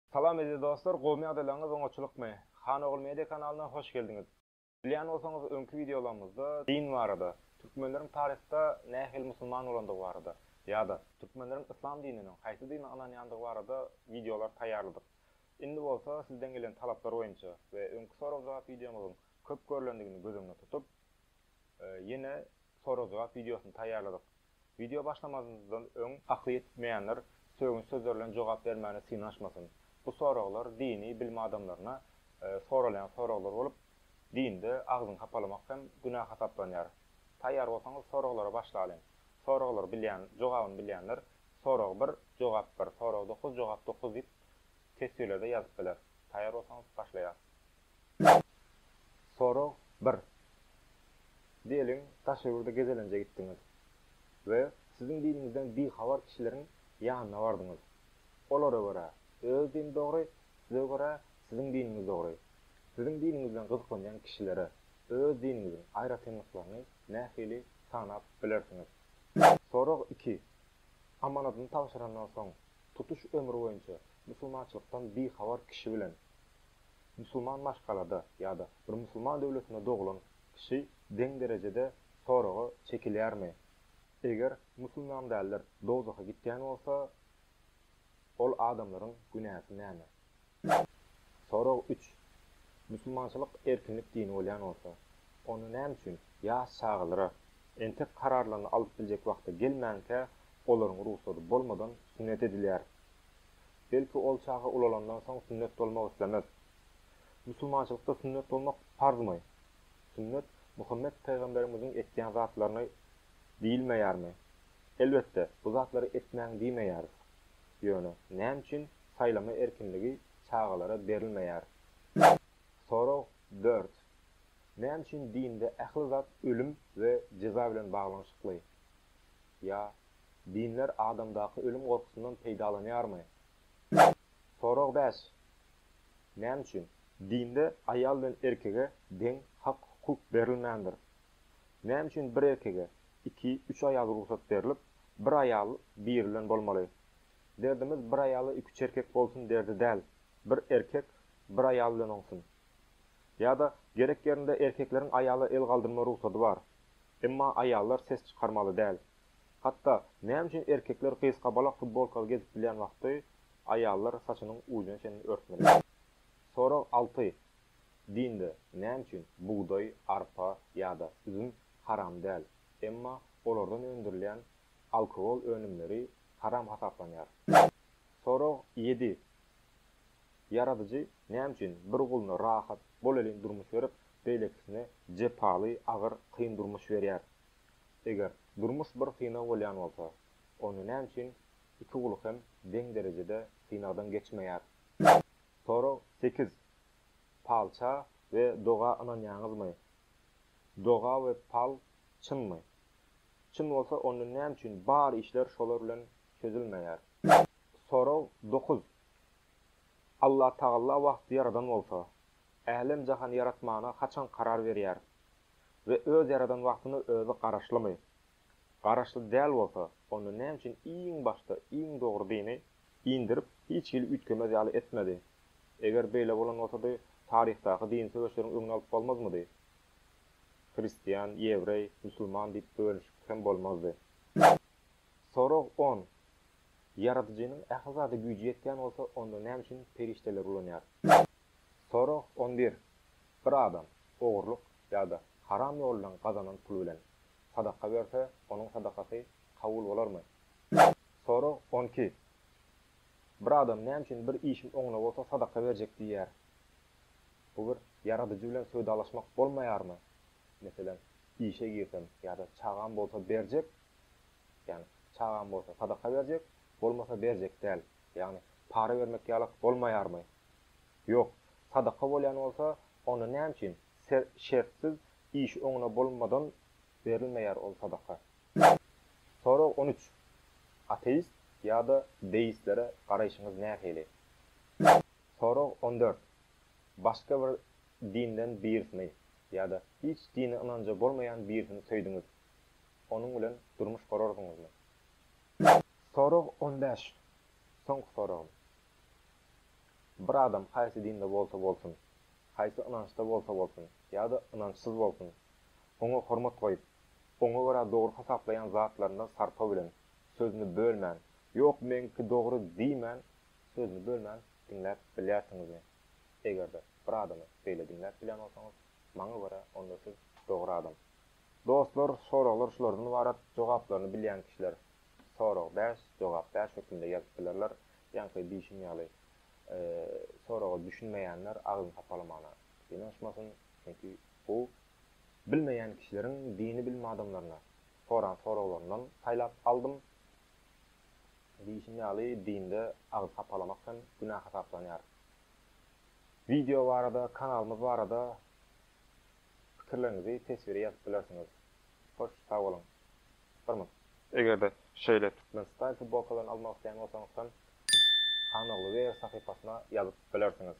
Salam eziz dostlar gowmy ýagdaýlaryňyz oňaçylykmy? Han ogul media kanalyna hoş geldiňiz. Bilýän bolsaňyz öňki wideolarymyzda din barada, türkmenleriň taryhda nähili musulman bolandygy barada ýa-da türkmenleriň yslam dininiň haýsy dine ynanýandygy barada wideolar taýýarladyk. Indi bolsa sizden gelen talaplar boýunça we öňki sorag-jogap wideomyzyň Köp görlendigini göz öňüne tutup, ýene sorag-jogap wideosyny taýýarladyk. Wideo başlamazdan öň akly ýetmeýänler sögünç sözleri bilen jogap bermäne synanyşmasyn. Bu soraglar dini bilim adamlaryna soralýan soraglar bolup, dinde agzyňy hapalamak hem günä hasaplanýar. Taýýar bolsaňyz soraglara başlalyň. Soraglary bilýän, jogabyny bilýänler Sorag bir, jogap bir, sorag dokuz, jogap dokuz diýip teswirlerde ýazyp biler. Taýýar bolsaňyz başlaýas. Sorag bir. Diýeliň, daş ýurda gezelenje gitdiňiz we siziň diniňizden bihabar kişileriň ýanyna bardyňyz. Olara görä, öz dini dogry, size görä, siziň diniňiz dogry. Siziň diniňizden gyzyklanýan kişilere öz diniňiziň aýratynlyklaryny nähili sanap bilersiňiz? Sorag iki. Amanadyny tabşyrandan soň, tutuş ömri boýunça musulmançylykdan bihabar kişi bilen Musulman maşgalada ýa-da bir musulman döwletinde doglan kişi deň derejede soraga çekilýärmi? Eger musulman däldir dowzaha gitýän bolsa, ol adamlaryň günäsi näme? Sorag üç, Musulmançylyk erkinlik dini bolýan bolsa, onda näme üçin ýaş çagalara entek kararlaryny alyp biljek wagta gelmänkä olaryň rugsady bolmadan sünnet edilýär? Belki, ol çaga ulalandan soň sünnet bolmak islemez. Musulmançylykda sünnet bolmak parzmy? Sünnet Muhammet pygamberimiziň etýän zatlaryny diýilmeýärmi? Elbetde, bu zatlary etmäň diýmeýäris. Ýöne, näme üçin saýlama erkinligi çagalara berilmeýär? Sorag dört. Näme üçin dinde ähli zat ölüm we jeza bilen baglanyşykly? Ýa Dinler adamdaky ölüm gorkusyndan peýdalanýarmy? Sorag bäş, Näme üçin? Dinde aýal bilen erkege deň hak-hukuk berilmändir. Näme üçin bir erkege iki, üç aýal rugsat berlip, bir aýal biri bilen bolmaly? Derdimiz bir aýala iki-üç erkek bolsun derdi däl, bir erkek bir aýal bilen oňsun. Ýa-da gerek ýerinde erkekleriň aýala el galdyrma rugsady bar. Emma aýallar ses çykarmaly däl. Hatda, näme üçin erkekler gysgabalak futbolkaly gezip bilýän wagty, aýallar saçynyň ujuna çenli örtmeli? Sorag alty, Dinde näme üçin bugdaý, arpa ýa-da üzüm haram däl, emma olardan öndürilýän alkogol önümleri haram hasaplanýar? Sorag ýedi, Ýaradyjy näme üçin bir guluna rahat, bolelin durmuş berip, beýlekisine jepaly, agyr, kyn durmuş berýär? Eger durmuş bir synag bolýan bolsa, onda näme üçin iki uly hem deň derejede synagdan geçmeýär? Sorag sekiz, Palça we doga ynanýaňyzmy? Doga we pal çynmy? Çyn bolsa, onda näme üçin bar işler şolar bilen çözülmeýär? Sorag dokuz, Allatagalla wagty ýaradan bolsa, älem-jahany ýaratmana haçan karar berýär? we öz ýaradan wagtyna özi garaşlymy? Garaşly däl bolsa, onda näme üçin iň başda iň dogry dini indirip, hiç hili üýtgemez ýaly etmedi? Eger beýle bolan bolsady, taryhdaky dini söweşleriň öňüni alyp bolmazmydy? Hristian, ýewreý, musulman diýip bölüşip hem bolmazdy. Sorag on. Ýaradyjynyň ähli zada güýji ýetýän bolsa, onda näme üçin perişdeleri ulanýar? Sorag on bir, Bir adam ogurlyk ýa-da haram ýol bilen gazanan pul bilen sadaka berse, onuň sadakasy kabul bolarmy? Sorag on iki, Bir adam näme üçin bir işim oňuna bolsa sadaka berjek diýýär? Bu bir Ýaradyjy bilen söwdalaşmak bolmaýarmy? Meselem, işe girsem ýa-da çagam bolsa berjek, ýagny çagam bolsa sadaka berjek, bolmasa berjek däl, ýagny para bermek ýalak bolmaýarmy? Ýok, sadaka bolýan bolsa, onda näme üçin şertsiz işi oňuna bolmadan berilmeýär ol sadaka? Sorag on üç, Ateist ýa-da deistlere garaýşyňyz nähili? Sorag on dört, Başga bir dinden birisini ýa-da hiç dine ynanja bolmaýan birisini söýdüňiz, onuň bilen durmuş gurardyňyzmy? Sorag on bäş, soňky soragym. Bir adam haýsy dinde bolsa bolsun, haýsy ynançda bolsa bolsun ýa-da ynançsyz bolsun, oňa hormat goýup, oňa görä dogry hasaplaýan zatlaryndan sarpa bilen, sözüni bölmän, ýok meňki dogry diýmän, sözüni bölmän diňläp bilýärsiňizmi? Eger-de bir adamy beýle diňläp bilýän bolsaňyz, maňa görä onda siz dogry adam. Dostlar, soraglar şulardan ybarat, jogaplaryny bilýän kişiler sorag bäş, jogap bäş hökmünde ýazyp bilerler. Ýaňky diýşim ýaly, soraga düşünmeýänler agzyny sapalamana synanyşmasyn, çünki bu bilmeýän kişileriň dini bilim adamlaryna soran soraglaryndan saýlap aldym. Diýşim ýaly, dinde agzy sapalamak hem günä hasaplanýar. Wideo barada, kanalymyz barada pikirleriňizi teswiri ýazyp bilersiňiz. Hoş sag boluň. Hormat. Eger-de şeýle Türkmenistan futbolkalaryny almak isleýän bolsaňyzsam Hanoğlu Wear sahypasyna ýazyp bilersiňiz.